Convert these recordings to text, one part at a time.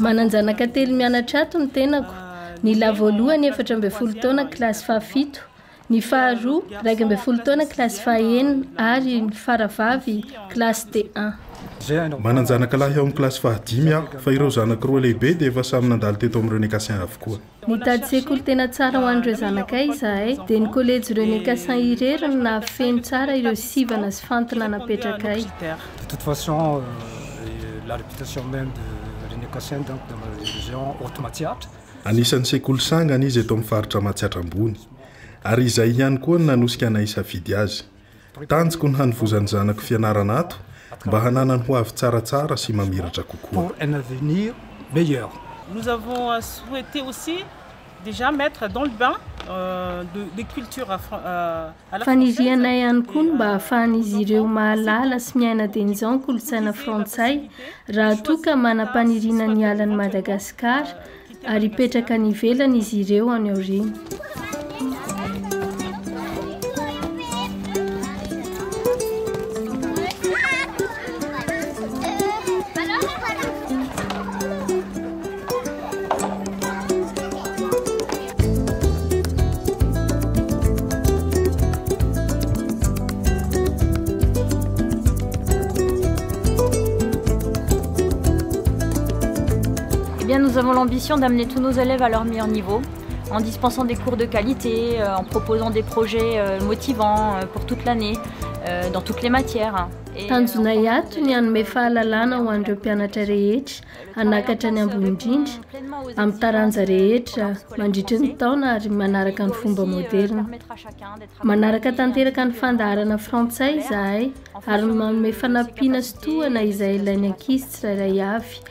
Manan-janaka telo mianatra ato ny tenako, ny lahy voalohany efatra ambin'ny folo taona kilasy fahafito, ny faharoa iraika ambin'ny folo taona kilasy fahenina ary ny faravavy kilasy D1. Manan-janaka lahy ao amin'ny kilasy fahadimy aho fa ireo zanako roa lehibe dia efa samy nandalo teto amin'ireo Nekasiens avokoa. Nitady sekoly tena tsara ho an'ireo zanakay izahay, dia ny Kolejy René Cassin irery no nahafeno tsara ireo sivana sy fantina napetrakay. De toute façon, la réputation même de René Cassin donc dans ma région Haute-Matsiatra. Anisan'ny sekoly sangany izy eto amin'ny faritra Matsiatra Ambony, ary izay ihany koa no nanosika anay hisafidy azy. Tanjoko ny hanovozan'ny zanako fianarana ato mba hananany ho avy tsaratsara sy mamiratra kokoa. Nous avons à souhaiter aussi déjà mettre dans le bain les cultures à la française. Fanirianay ihany koa ny mba hahafahan'izy ireo mahalala sy miaina dieny izao ny kolontsaina frantsay raha toa ka manam-paniriana ny hiala an'i Madagasikara ary hipetraka any ivelany izy ireo any aoriana. Eh bien nous avons l'ambition d'amener tous nos élèves à leur meilleur niveau en dispensant des cours de qualité, euh, en proposant des projets euh, motivants euh, pour toute l'année, dans toutes les matières. Tanjonay ato ny hanome fahalalana ho an'ireo mpianatra rehetra hanakatra ny ambony indrindra amin'ny taranja rehetra mandritry ny taona ary manaraka ny fomba moderna. Manaraka tanteraka ny fandaharana frantsay izahay ary manome fanampiana sy tohana izay ilain'ny ankizy tsirairay avy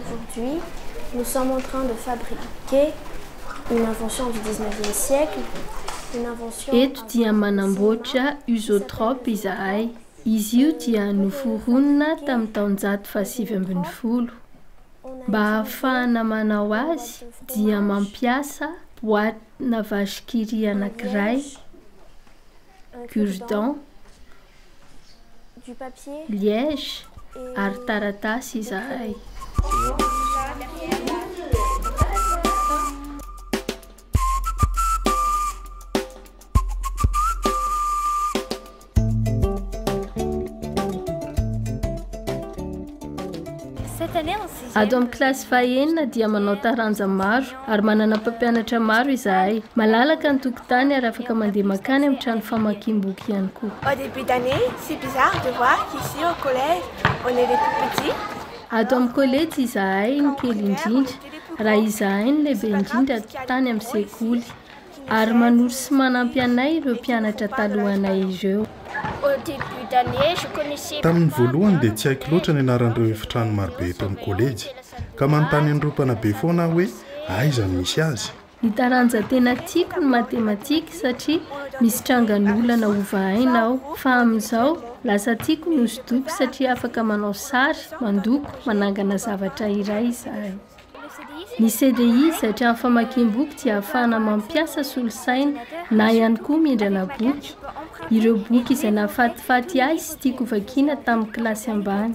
Aujourd'hui, nous sommes en train de fabriquer une invention du dix-neuvième siècle, une invention. Eto dia manamboatra Usotrop izahay. Izy io dia noforonina tamin'ny taonjato fahasivy ambin'ny folo. Mba hahafahana manao azy dia mampiasa boite-na vache-qui rit anankiray, cure-dent, du papier, liège ary taratasy izahay. Ato amin'ny kilasy fahenina dia manao taranja maro ary manana mpampianatra maro izahay. Malalaka ny tokotany ary afaka mandeha mankany amin'ny trano famakiam-boky ihany koa. Au début d'année, c'est bizarre de voir qu'ici au collège, on est les tout petits. Ato amin'ny kolejy izahay no kely indrindra raha izahay no lehibe indrindra tany amin'ny sekoly. Ary manoro sy manampy anay ireo mpianatra talohanay ireo. Tamin'ny voalohany dia tsy haiko loatra ny anaran'ireo efitrano marobe eto amin'ny kôlejy, ka manontany an'ireo mpanabe foana aho hoe aiza no misy azy. Ny taranja tena tiako ny matematika satria misy trangan'olana hovahaina ao, fa amin'izao lasa tiako ny hosodoko satria afaka manao sary, mandoko, manangana zavatra iray izahay. Ny CDI satria ny famakiam-boky dia ahafahana mampiasa solosaina na ihany koa mindrana boky, ireo boky izay nahafatifaty ahy sy tiako vakiana tamin'ny kilasy ambany.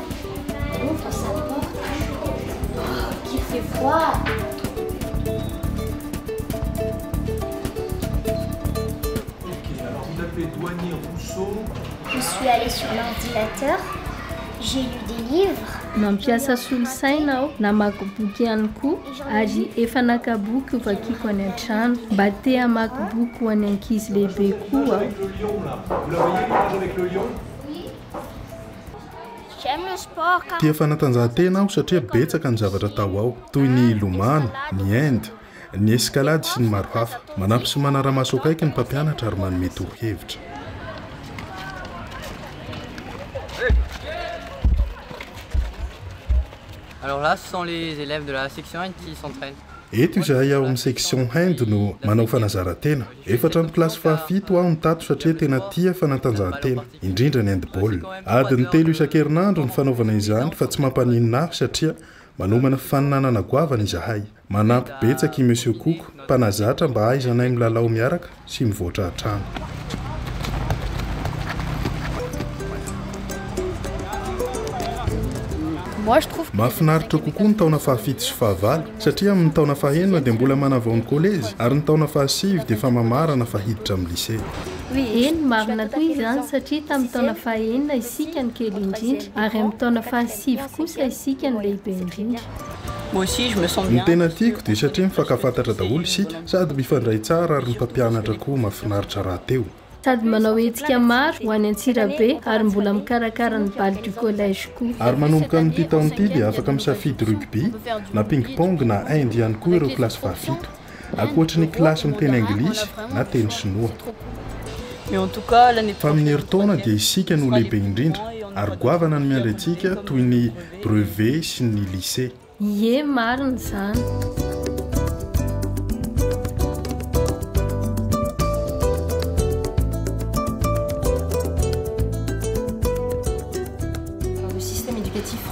Mampiasa solosaina aho, namaky boky ihany koa ary efa naka boky ho vakiako any an-trano. Mba te hamaky boky ho an'ny ankizy lehibe koa aho. Tia fanatanjahantena aho satria betsaka ny zavatra atao ao, toy ny hilomano, ny hand, ny escalade sy ny maro hafa. Manampy sy manara-maso akaiky ny mpampianatra ary manome torohevitra. Eto izahay ao amin'ny section hand no manao fanazaran-tena. Efatra amby kilasy fahafito aho no tato satria tena tia fanatanjahantena, indrindra ny handball. Adiny telo isan-kerinandro ny fanaovana izany fa tsy mampaninona ahy satria manomana fifaninanana goavana izahay. Manampy betsaka i Monsieur Cook, mpanazatra mba hahaizanay milalao miaraka sy mivoatra hatrany. Mahafinaritra kokoa ny taona fahafito sy fahavalo Satria amin'ny taona fahenina dia mbola manavao ny kolejy ary ny taona fahasivy dia efa mamarana fa hiditra amin'ny lisea. Eny, marina tokoa izany satria tamin'ny taona fahenina isika no kely indrindra ary amin'ny taona fahasivy kosa isika no lehibe indrindra. Ny tena tiako dia satria mifankafantatra daholo isika sady mifandray tsara ary ny mpampianatra koa mafinaritra rahateo. Sady manao hetsika maro ho any Antsirabe ary mbola mikarakara ny Bal du Collège koa. Ary manomboka amin'ity taona ity dia afaka misafidy rugby, na ping pong na hand ihany koa ireo kilasy fahafito. Ankoatry ny kilasy miteny anglisy na teny sinoa. Fa amin'ny herintaona dia isika no lehibe indrindra ary goavana ny miandry antsika toy ny brevet sy ny lycée. Ie marina izany.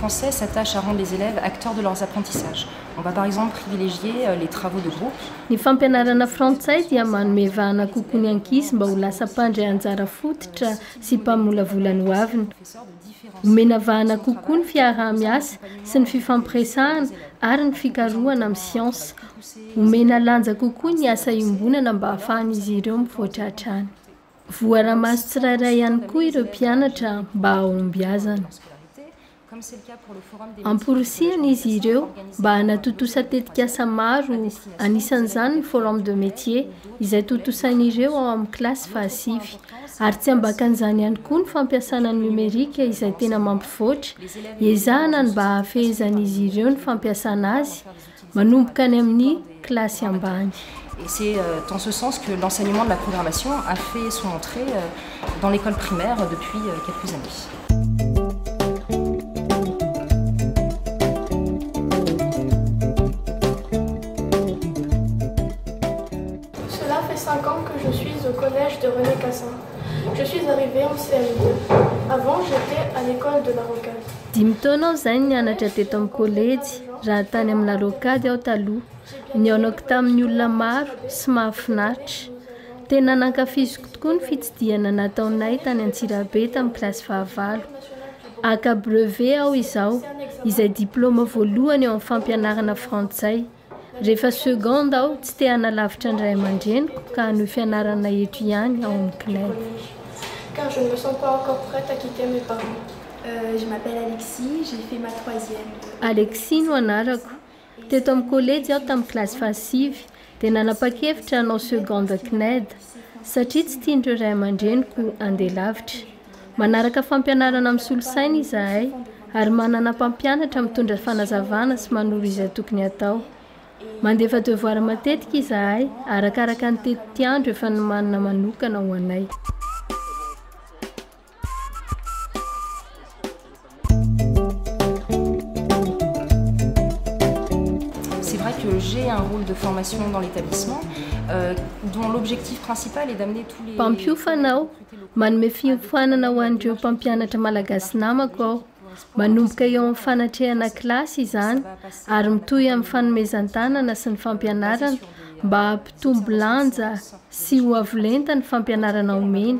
français s'attache à rendre les élèves acteurs de leurs apprentissages. On va par exemple privilégier euh, les travaux de groupe. Ny fampianarana frantsay dia manome vahana kokoa ny ankizy mba ho lasa mpandry anjara fototra sy mpamolavola ny hoaviny. Omena vahana kokoa ny fiaraha-miasa sy ny fifampiresahana ary ny fikarohana amin'ny siansa. Omena lanja kokoa ny asa iombonana mba hahafahan'izy ireo mivoatra hatrany. Voara-maso tsirairay ihany koa ireo mpianatra mba hahombiazana. Amporisihina izy ireo mba hanatontosa tetikasa maro, anisan'izany ny Forum de Métiers, izay tontosain'ireo ao amin'ny kilasy fahasivy. ary tsy ambakan'izany ihany koa ny fampiasana ny nomerika izay tena mampivoatra, iezahana ny mba hahafehezan'izy ireo ny fampiasana azy, manomboka any amin'ny kilasy ambany. Et c'est dans ce sens que l'enseignement de la programmation a fait son entrée dans l'école primaire depuis quelques années. Cela fait cinq ans que je suis au collège de René Cassin. Je suis arrivée en CM2. Avant j'etais à l'ecole de la Rocade. Dimy taona aho izay nianatra teto amin'ny kolejy raha tany amin'ny La Rocade aho taloha. Nihaonako tamin'ny olona maro sy mahafinaritra. Tena nankafiziko tokoa ny fitsidihana nataonay tany Antsirabe tamin'ny kilasy fahavalo. Haka brevet aho izao, izay diplaoma voalohany eo amin'ny fampianarana frantsay. Rehefa seconde aho, tsy te hanalavitra ny ray aman-dreniko ka hanohy fianarana eto ihany ao amin'ny CNED. Car je ne me sens pas encore prête à quitter mes parents. Je m'appelle Alexia, j'ai fait ma troisième. Alexia no anarako. Teto amin'ny kolejy aho tamin'ny kilasy fahasivy dia nanapa-kevitra hanao seconde CNED satria tsy tian'ireo ray aman-dreniko handeha lavitra. Manaraka fampianarana misolo saina izahay, ary manana mpampianatra mitondra fanazavana sy manoro izay tokony hatao. Mandefa devoara matetika izahay, arakaraka ny tetiandro efa nomanina manokana ho anay. C'est vrai que j'ai un rôle de formation dans l'établissement euh, dont l'objectif principal est d'amener tous les Mpampiofana aho manome fiofanana ho an'ireo mpampianatra malagasy namako aho manomboka eo amin'ny fanatrehana kilasy izany ary mitohy amin'ny fanomezan-tanana sy ny fampianarana mba hampitombo lanja sy ho avo lenta ny fampianarana omeny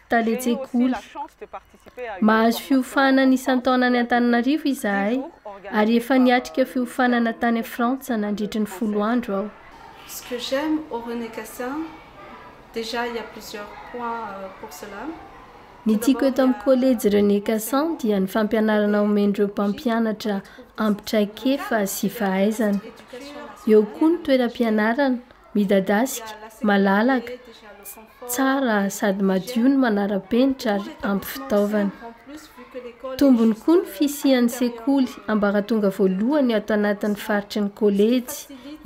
Tale Tsekoly. Mahazo fiofanana isan-taona any Antananarivo izahay ary efa niatrika fiofanana tany Frantsa nandritry ny folo andro aho. Ce que j'aime au René Cassin, déjà il y a plusieurs points pour cela. Ny tiako eto amin'ny Kolejy René Cassin dia ny fampianarana omen'ireo mpampianatra ampy traikefa sy fahaizana. Eo koa ny toeram-pianarana, Midadasika, malalaka, tsara sady madio ny manara-penitra ary ampy fitaovana. Tombony koa ny fisian'ny sekoly ambaratonga voalohany ato anatin'ny faritry ny kolejy,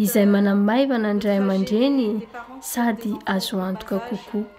izay manamaivana ny ray aman-dreny sady azo antoka kokoa.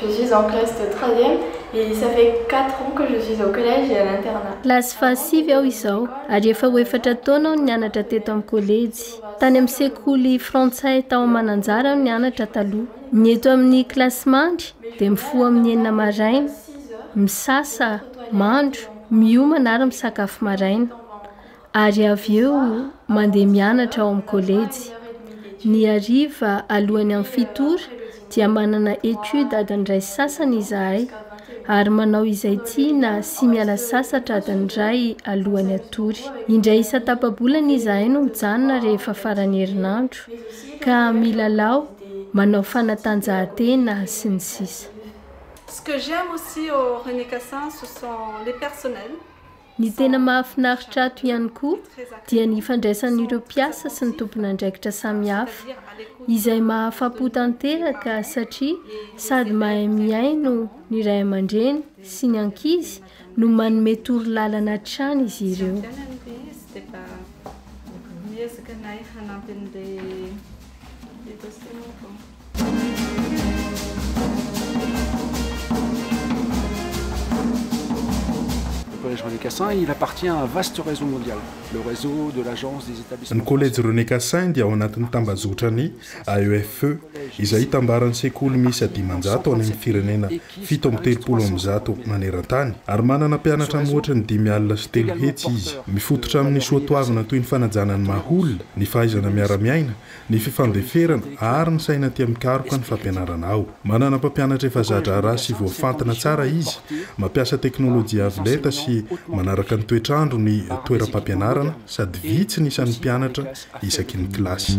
Je suis en classe de troisième et ça fait quatre ans que je suis au collège et à l'internat. Kilasy fahasivy aho izao ary efa ho efatra taona aho nianatra teto amin'ny kolejy. Tany amin'ny sekoly frantsay tao Mananjary aho nianatra taloha. Ny eto amin'ny kilasy mandry dia mifoha amin'ny enina maraina, misasa, mandro, miomana ary misakafo maraina. ary avy eo mandeha mianatra ao amin'ny kolejy, ny hariva alohan'ny amin'ny fito ora dia manana étude adiny iray sy sasany izahay ary manao izay tiana sy miala sasatra adiny iray alohan'ny hatory. Indray isan-tapa-bolana izahay no mijanona rehefa faran'ny herinandro ka milalao, manao fanatanjahantena sy ny sisa. Ce que j'aime aussi au René Cassin ce sont les personnels. Ny tena mahafinaritra ato ihany koa dia ny ifandraisan'ireo mpiasa sy ny tompon'andraikitra samihafa, izay mahafa-po tanteraka satria sady mahay mihaino ny ray aman-dreny sy ny ankizy no manome toro lalana hatrany izy ireo. Ny Kolejy René Cassin dia ao anatin'ny tambazotra ny AEFE, izay itambaran'ny sekoly miisa dimanjato any amin'ny firenena fito amby telopolo amin'ny zato maneran-tany, ary manana mpianatra mihoatra ny dimy alina sy telo hetsy izy. Mifototra amin'ny soatoavina toy ny fanajana ny maha-olona, ny fahaizana miara-miaina, ny fifandeferana ary ny saina tia mikaroka ny fampianarana ao. Manana mpampianatra efa za-draharaha sy voafantina tsara izy, mampiasa teknolojia avo lenta sy manaraka ny toetr'andro ny toeram-pampianarana sady vitsy ny isan'ny mpianatra isaky ny kilasy.